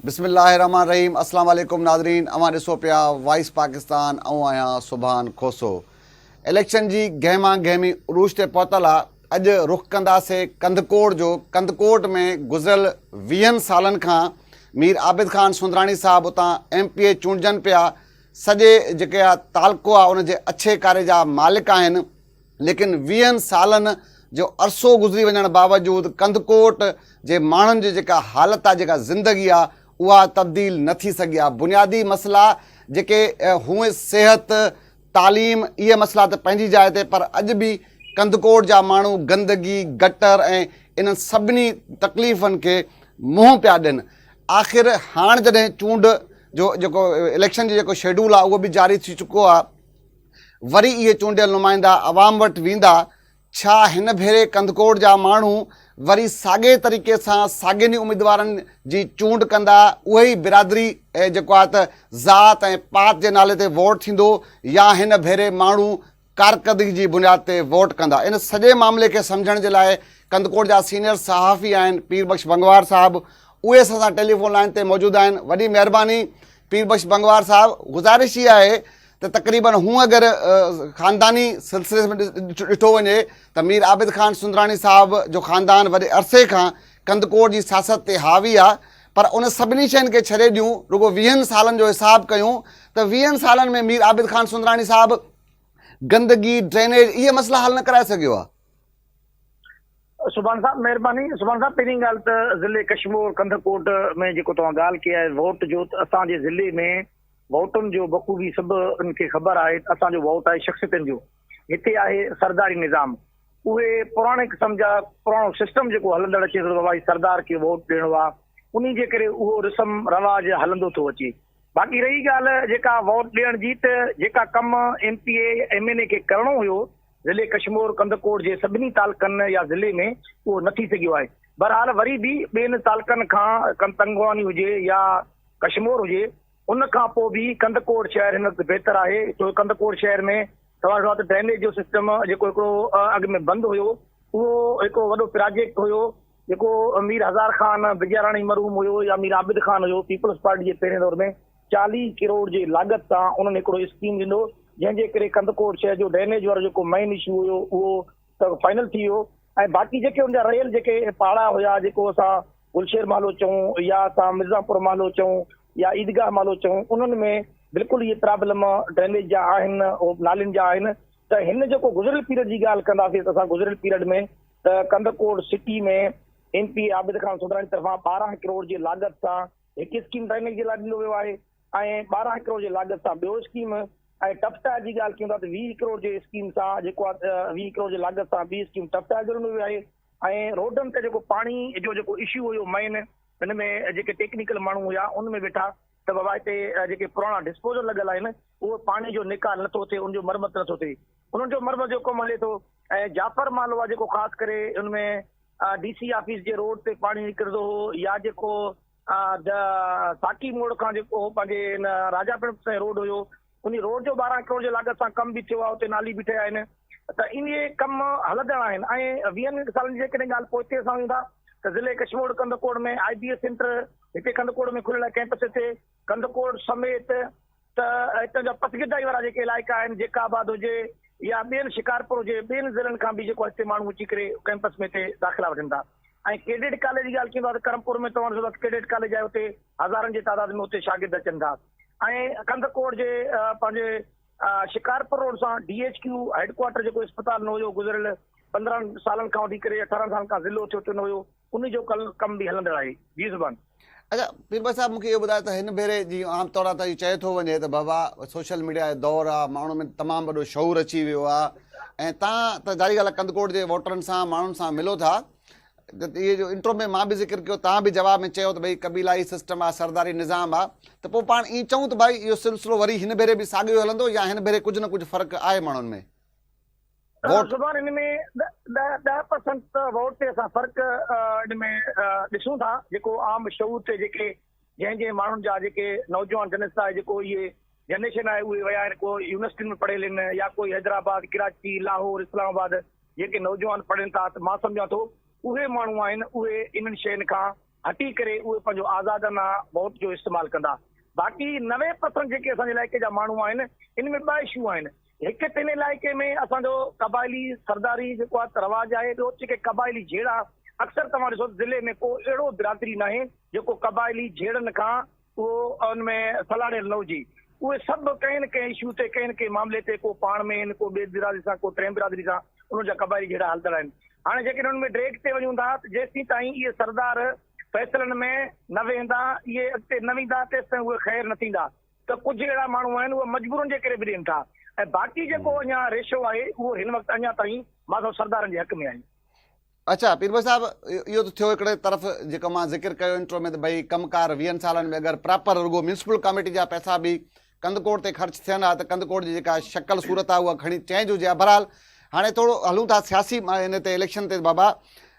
بسم الله الرحمن الرحيم اسلام عليڪم ناظرين اوهان ڏسو پيا وائس پاڪستان آئون آهيان سبحان کوسو اليڪشن جي گهما گهمي عروج تي پهتل آ اڄ رخ ڪنداسي ڪنڌڪوٽ جو ڪنڌڪوٽ ۾ گذريل ويهن سالن کان مير عابد خان سندراڻي صاحب اتان ايم پي اي چونڊجن پيا سڄي جيڪي تعلقو آ ان جي اڇي ڪاري جا مالڪ آهن ليڪن ويهن سالن جو عرصو گذري وڃڻ باوجود ڪنڌڪوٽ جي ماڻهن جي جيڪا حالت آهي جيڪا زندگي آهي اها تبديل نه ٿي سگهي آهي بنيادي مسئلا جيڪي هونء صحت تعليم اهي مسئلا ته پنهنجي جاء تي پر اڄ به ڪنڌڪوٽ جا ماڻهو گندگي گٽر ۽ انهن سڀني تڪليفن کي منهن پيا ڏين آخر هاڻ جڏهن چونڊ جو جيڪو اليڪشن جو جيڪو شيڊول آهي اهو به جاري ٿي چڪو آهي وري اهي چونڊيل نمائندا عوام وٽ ويندا، ڇا هن ڀيري ڪنڌڪوٽ جا ماڻهو وري ساڳئي طريقي سان ساڳين ئي اميدوارن جي چونڊ ڪندا، اهي ئي برادري جيڪو آهي ته ذات ۽ پات جي نالي تي ووٽ ٿيندو يا هن ڀيري ماڻهو ڪارڪردگي جي بنياد تي ووٽ ڪندا؟ ان سڄي معاملي کي سمجهڻ جي لاء ڪنڌڪوٽ جا سينيئر صحافي آهن پير بخش بنگوار صاحب اهي اسان سان ٽيليفون لائين تي موجود آهن، وڏي مهرباني پير بخش بنگوار صاحب گذارش اها آهي ته تقريبن هونء اگر خانداني سلسلي ۾ ڏٺو وڃي ته مير عابد خان سندراڻي صاحب جو خاندان وڏي عرصي کان ڪنڌڪوٽ جي سياست تي حاوي آ پر ان سڀني شين کي ڇڏي ڏيون رڳو ويهن سالن جو حساب ڪيون ته ويهن سالن ۾ مير عابد خان سندراڻي صاحب گندگي ڊرينيج اهي مسئلا حل نه ڪرائي سگهيو آ سبحان صاحب مهرباني سبحان صاحب پهرين ڳالهه ته ضلع ڪشمور ڪنڌڪوٽ ۾ جيڪو توهان ڳالهه ڪئي آهي ووٽ جو اسان جي ضلعي ۾ ووٽن جو بخوبي سڀ ان کي خبر آهي ته اسان جو ووٽ آهي شخصيتن جو، هتي آهي سرداري نظام، اهي پراڻي قسم جا پراڻو سسٽم جيڪو هلندڙ اچي ٿو ته بابا جي سردار کي ووٽ ڏيڻو آهي انهي جي ڪري اهو رسم رواج هلندو ٿو اچي باقي رهي ڳالهه جيڪا ووٽ ڏيڻ جي ته جيڪا ڪم ايم پي اي يا ايم اين اي کي ڪرڻو هيو ضلعي ڪشمور ڪنڌڪوٽ جي سڀني تعلقن يا ضلعي ۾ اهو نه ٿي سگهيو آهي بهرحال وري به ٻين تعلقن کان ڪن تنگواني هجي يا ڪشمور هجي ان کان پوء به ڪنڌڪوٽ شهر هن وقت بهتر آهي ڇو جو ڪنڌڪوٽ شهر ۾ توهان ڏٺو آهي ته ڊرينيج جو سسٽم جيڪو هڪڙو اڳ ۾ بند هيو اهو هڪ وڏو پراجيڪٽ هيو جيڪو مير هزار خان بجياراڻي مرحوم هيو يا مير عابد خان هيو پيپلز پارٽي جي پهرين دور ۾ چاليهه ڪروڙ جي لاڳت سان انهن هڪڙو اسڪيم ڏنو جنهن جي ڪري ڪنڌڪوٽ شهر جو ڊرينيج وارو جيڪو مين اشو هيو اهو ته فائنل ٿي ويو ۽ باقي جيڪي ان جا رهيل جيڪي پاڙا هيا جيڪو اسان گلشير محلو چئون يا اسان مرزا پور محلو چئون يا عيدگاهه محلو چئون انهن ۾ بلڪل اهي پرابلم ڊرينيج جا آهن نالين جا آهن ته هن جيڪو گذريل پيريڊ جي ڳالهه ڪنداسين ته اسان گذريل پيريڊ ۾ ته Kandhkot city ۾ M P Abid Khan Soomrani طرفان ٻارهن ڪروڙ جي لاڳت سان هڪ اسڪيم ڊرينيج جي لاء ڏنو ويو آهي ۽ ٻارهن ڪروڙ جي لاڳت سان ٻيو اسڪيم ۽ ٽف ٽائر جي ڳالهه ڪيون ٿا ته ويهه ڪروڙ جي اسڪيم سان جيڪو آهي ويهه ڪروڙ جي لاڳت سان ٻي اسڪيم ٽف ٽائر جوڙندو ويو آهي ۽ روڊن تي جيڪو پاڻي جو جيڪو اشو هيو مين هن ۾ جيڪي ٽيڪنيڪل ماڻهو هيا ان ۾ ويٺا ته بابا هتي جيڪي پراڻا ڊسپوزل لڳل آهن اهو پاڻي جو نيڪال نٿو ٿئي ان جو مرمت نٿو ٿئي انهن جو مرمت جو ڪم هلي ٿو ۽ جعفر مال هئا جيڪو خاص ڪري ان ۾ ڊي سي آفيس جي روڊ تي پاڻي نڪرندو هو يا جيڪو ته ساقي موڙ کان جيڪو پنهنجي ان راجا پڻ سين روڊ هيو انهي روڊ جو ٻارهن ڪروڙ جي لاڳت سان ڪم به ٿيو آهي اتي نالي به ٺهيا آهن ته انهي ڪم هلندڙ آهن ۽ ويهن سالن جي جيڪڏهن ڳالهه پوئتي اسان ويون ٿا ته ضلعي Kashmore Kandhkot ۾ I B S centre هتي ڪنڌڪوٽ ۾ کلڻ لاء ڪئمپس هتي ڪنڌڪوٽ سميت ته هتان جا پسگردائي وارا جيڪي علائقا آهن جيڪا آباد هجي يا ٻين شڪارپور هجي ٻين ضلعن کان به جيڪو هتي ماڻهو اچي ڪري ڪئمپس ۾ هتي داخلا وٺن ٿا ۽ ڪيڊيٽ ڪاليج جي ڳالهه ڪيون ٿا ته ڪرمپور ۾ توهان ڏسو ته ڪيڊيٽ ڪاليج آهي اتي هزارن جي تعداد ۾ اتي شاگرد اچن ٿا ۽ ڪنڌڪوٽ جي پنهنجي شڪارپور روڊ سان D H Q headquarter جيڪو اسپتال نه هيو گذريل پندرهن سالن کان وٺي ڪري اٺارهن سالن کان ضلعو ٿيو ته نه هيو ان جو ڪم به هلندڙ آهي. جي زبان. اچا پير بخش صاحب مون کي اهو ٻڌايو ته هن ڀيري جيئن عام طور تان چيو ٿو وڃي ته بابا سوشل ميڊيا جو دور آ ماڻهن ۾ تمام وڏو شعور اچي ويو آ ۽ تان ته ظاهري ڳالهه آ ڪنڌڪوٽ جي ووٽرن سان ماڻهن سان ملو ٿا اهي جو انٽرو ۾ مان به ذڪر ڪيو تان به جواب ۾ چيو ته ڀئي قبيلائي سسٽم آ سرداري نظام آ ته پوء پاڻ ائين چئون ته ڀائي اهو سلسلو وري هن ڀيري به ساڳيو هلندو يا هن ڀيري ڪجهه نه ڪجهه فرق آهي ماڻهن ۾؟ ووٽ. زبان ان ۾ ڏهه ڏهه پرسنٽ ووٽ تي اسان فرق ان ۾ ڏسون ٿا جيڪو عام شعور تي جيڪي جنهن جنهن ماڻهن جا جيڪي نوجوان جنس آهي جيڪو اهي جنريشن آهي اهي ويا آهن ڪو يونيورسٽين ۾ پڙهيل ان يا ڪوئي حيدرآباد ڪراچي لاهور اسلام آباد جيڪي نوجوان پڙهن ٿا ته مان سمجهان ٿو اهي ماڻهو آهن اهي انهن شين کان هٽي ڪري اهي پنهنجو آزادانه ووٽ جو استعمال ڪندا باقي نوي پرسنٽ جيڪي اسان جي علائقي جا ماڻهو آهن ان ۾ ٻه اشو آهن هڪ ٽن علائقي ۾ اسان جو قبائلي سرداري جيڪو آهي ته رواج آهي، ٻيو جيڪي قبائلي جهيڙا اڪثر توهان ڏسو ته ضلعي ۾ ڪو اهڙو برادري ناهي جيڪو قبائلي جهيڙن کان اهو ان ۾ سلهاڙيل نه هجي، اهي سڀ ڪنهن نه ڪنهن اشو تي ڪنهن نه ڪنهن معاملي تي ڪو پاڻ ۾ آهن ڪو ٻي برادري سان ڪو ٽئين برادري سان انهن جا قبائلي جهيڙا هلندڙ آهن. هاڻي جيڪڏهن انهن ۾ ڊيريڪٽ تي وڃون ٿا ته جيستين تائين اهي سردار فيصلن ۾ نه ويهندا اهي اڳتي نه ويندا تيستائين اهي خير نه ٿيندا. ته ڪجهه اهڙا ماڻهو آهن اهي مجبورن جي ڪري به ڏين ٿا ۽ باقي جيڪو اڃا ريشو آهي اهو هن وقت اڃا تائين ماڌو سردارن جي حق ۾ آهي. اڇا پير ڀوء صاحب اهو ته ٿيو هڪڙي طرف جيڪو مان ذڪر ڪيو انٽرو ۾ ته ڀئي ڪم ڪار ويهن سالن ۾ اگر پراپر رڳو ميونسپل ڪاميٽي جا پئسا به ڪنڌڪوٽ تي خرچ ٿين ها ته ڪنڌڪوٽ جي جيڪا شڪل صورت آهي اها کڻي چينج هجي ها بهرحال هاڻي ٿورو هلون ٿا سياسي ان تي اليڪشن تي بابا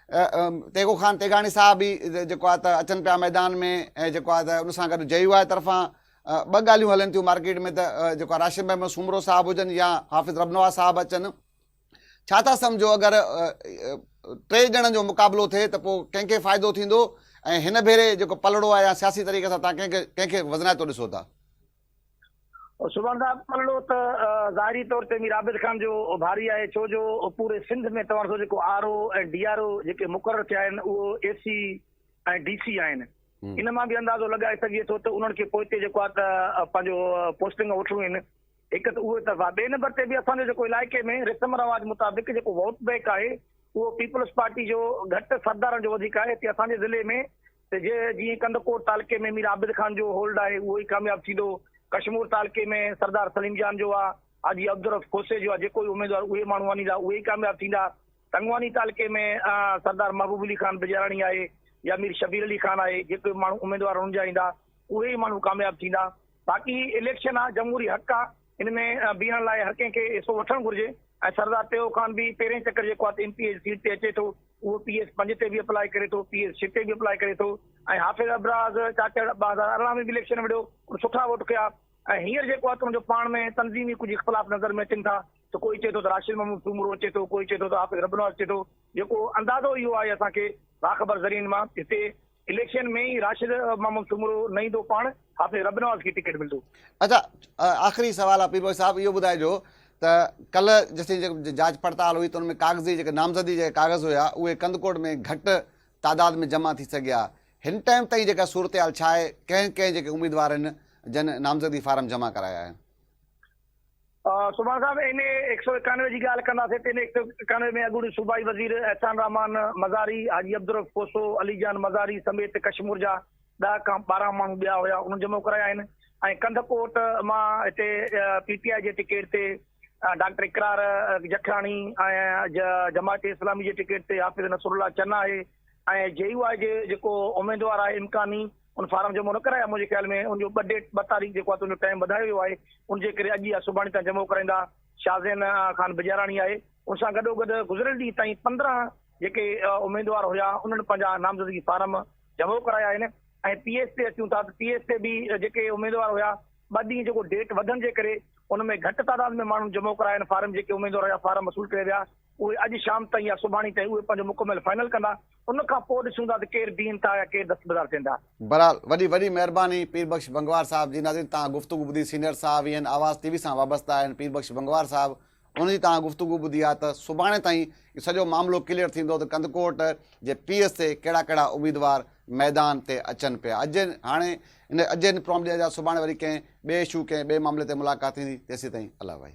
تيغو خان تيغاڻي صاحب به جيڪو آهي ته اچن پيا ميدان ۾ ۽ جيڪو آهي ته ان سان گڏ جي يو آء طرفان ٻه ڳالهيون هلن ٿيون مارڪيٽ ۾ ته جيڪو آهي راشد محمد سومرو صاحب هجن يا حافظ ربنواز صاحب اچن ڇا ٿا سمجهو اگر ٽي ڄڻن جو مقابلو ٿئي ته پوء ڪنهن کي فائدو ٿيندو ۽ هن ڀيري جيڪو پلڙو آهي يا سياسي طريقي سان تان ڪنهن کي ڪنهن کي وزنائتو ڏسو ٿا؟ سبحان صاحب پلڙو ته ظاهري طور تي مير عابد خان جو ڀاري آهي ڇو جو پوري سنڌ ۾ توهان ڏسو جيڪو R O ۽ D R O جيڪي مقرر ٿيا آهن اهو اي سي ۽ ڊي سي آهن ان مان به اندازو لڳائي سگهجي ٿو ته انهن کي پوئتي جيڪو آهي ته پنهنجو پوسٽنگ وٺڻيون آهن هڪ ته اهو طرف آهي ٻئي نمبر تي به اسان جو جيڪو علائقي ۾ رسم رواج مطابق جيڪو ووٽ بئڪ آهي اهو پيپلز پارٽي جو گهٽ سردارن جو وڌيڪ آهي هتي اسان جي ضلعي ۾ ته جي جيئن ڪنڌڪوٽ تعلقي ۾ مير عابد خان جو هولڊ آهي اهو ئي ڪامياب ٿيندو، ڪشمور تعلقي ۾ سردار سليم جان جو آ، حاجي عبدالرؤف کوسي جو آ، جيڪو ئي اميدوار اهي ماڻهو آڻيندا اهي ئي ڪامياب ٿيندا، تنگواني تعلقي ۾ سردار محبوب علي خان بجاراڻي آهي يا مير شبير علي خان آهي، جيڪو ئي ماڻهو اميدوار هنن جا ايندا اهي ئي ماڻهو ڪامياب ٿيندا، باقي اليڪشن آ جمهوري حق آ، ان ۾ بيهڻ لاء هر ڪنهن کي حصو وٺڻ گهرجي ۽ سردار تيئو خان به پهرين چڪر جيڪو آهي ته ايم پي اي جي سيٽ تي اچي ٿو اهو پي ايس پنج تي به اپلائي ڪري ٿو پي ايس ڇهه تي به اپلائي ڪري ٿو ۽ حافظ ابراز چاچڙ ٻه هزار ارڙهن ۾ به اليڪشن وڙهيو ان سٺا ووٽ ڪيا ۽ هينئر جيڪو آهي ته ان جو پاڻ ۾ تنظيمي ڪجهه اختلاف نظر ۾ اچن ٿا ته ڪوئي چئي ٿو ته راشد محمود سومرو اچي ٿو ڪوئي چئي ٿو ته حافظ ربنواز اچي ٿو جيڪو اندازو اهو آهي اسان کي باخبر ذريعن مان هتي اليڪشن ۾ ئي راشد محمد سومرو نه ايندو پاڻ حافظ رب نواز کي ٽڪيٽ ملندو. اچا آخري سوال آ پيرڀوء صاحب اهو ٻڌائجو ته ڪلهه جيسين جيڪي جاچ پڙتال هئي ته ان ۾ ڪاغذي جيڪي نامزدي جا ڪاغذ هيا اهي ڪنڌڪوٽ ۾ گهٽ تعداد ۾ جمع ٿي سگهيا هن ٽائيم تائين جيڪا صورتحال ڇا آهي ڪنهن ڪنهن جيڪي اميدوارن جن نامزدي فارم جمع ڪرايا آهن. سبحان صاحب ايم اي هڪ سؤ ايڪانوي جي ڳالهه ڪنداسين ته ايم اي هڪ سؤ ايڪانوي ۾ اڳوڻي صوبائي وزير احسان رحمان مزاري، حاجي عبدالرؤف کوسو، علي جان مزاري سميت ڪشمور جا ڏهه کان ٻارهن ماڻهو ٻيا هيا انهن جمع ڪرايا آهن ۽ ڪنڌ ڪوٽ مان هتي پي ٽي آء جي ٽڪيٽ تي ڊاڪٽر اقرار جکياڻي ۽ جماعت اسلامي جي ٽڪيٽ تي حافظ نصرالله چنا آهي ۽ جي يو آء جي جيڪو اميدوار آهي امڪاني ان فارم جمع نه ڪرايا منهنجي خيال ۾ ان جو ٻه ڊيٽ ٻه تاريخ جيڪو آهي تنهنجو ٽائيم وڌايو ويو آهي ان جي ڪري اڄ يا سڀاڻي تان جمع ڪرائيندا شازين خان بجاراڻي آهي ان سان گڏو گڏ گذريل ڏينهن تائين پندرهن جيڪي اميدوار هيا انهن پنهنجا نامزدگي فارم جمع ڪرايا آهن ۽ پي ايس تي اچون ٿا ته پي ايس تي به جيڪي اميدوار هيا ٻه ڏينهن جيڪو ڊيٽ وڌن جي ڪري ان ۾ گهٽ تعداد ۾ ماڻهن جمع ڪرايا آهن فارم جيڪي اميدوار هيا فارم وصول ڪري ويا اهي اڄ شام تائين يا سڀاڻي تائين اهي پنهنجو مڪمل فائنل ڪندا، ان کان پوء ڏسون ٿا ته ڪير بيهن ٿا يا ڪير دستبردار ٿين ٿا. بهرحال وڏي وڏي مهرباني پير بخش بنگوار صاحب جي ناظرين توهان گفتگو ٻڌي سينئر صحافي آهن آواز ٽي وي سان وابسته آهن پير بخش بنگوار صاحب ان جي توهان گفتگو ٻڌي آهي ته سڀاڻي تائين اهو سڄو معاملو ڪليئر ٿيندو ته ڪنڌڪوٽ جي پي ايس تي ڪهڙا ڪهڙا اميدوار ميدان تي اچن پيا اڄ هاڻي ان اجين پروم ڏينهن جا سڀاڻي وري ڪنهن ٻئي اشو ڪنهن ٻئي معاملي تي ملاقات ٿيندي تيسين تائين الله وحي.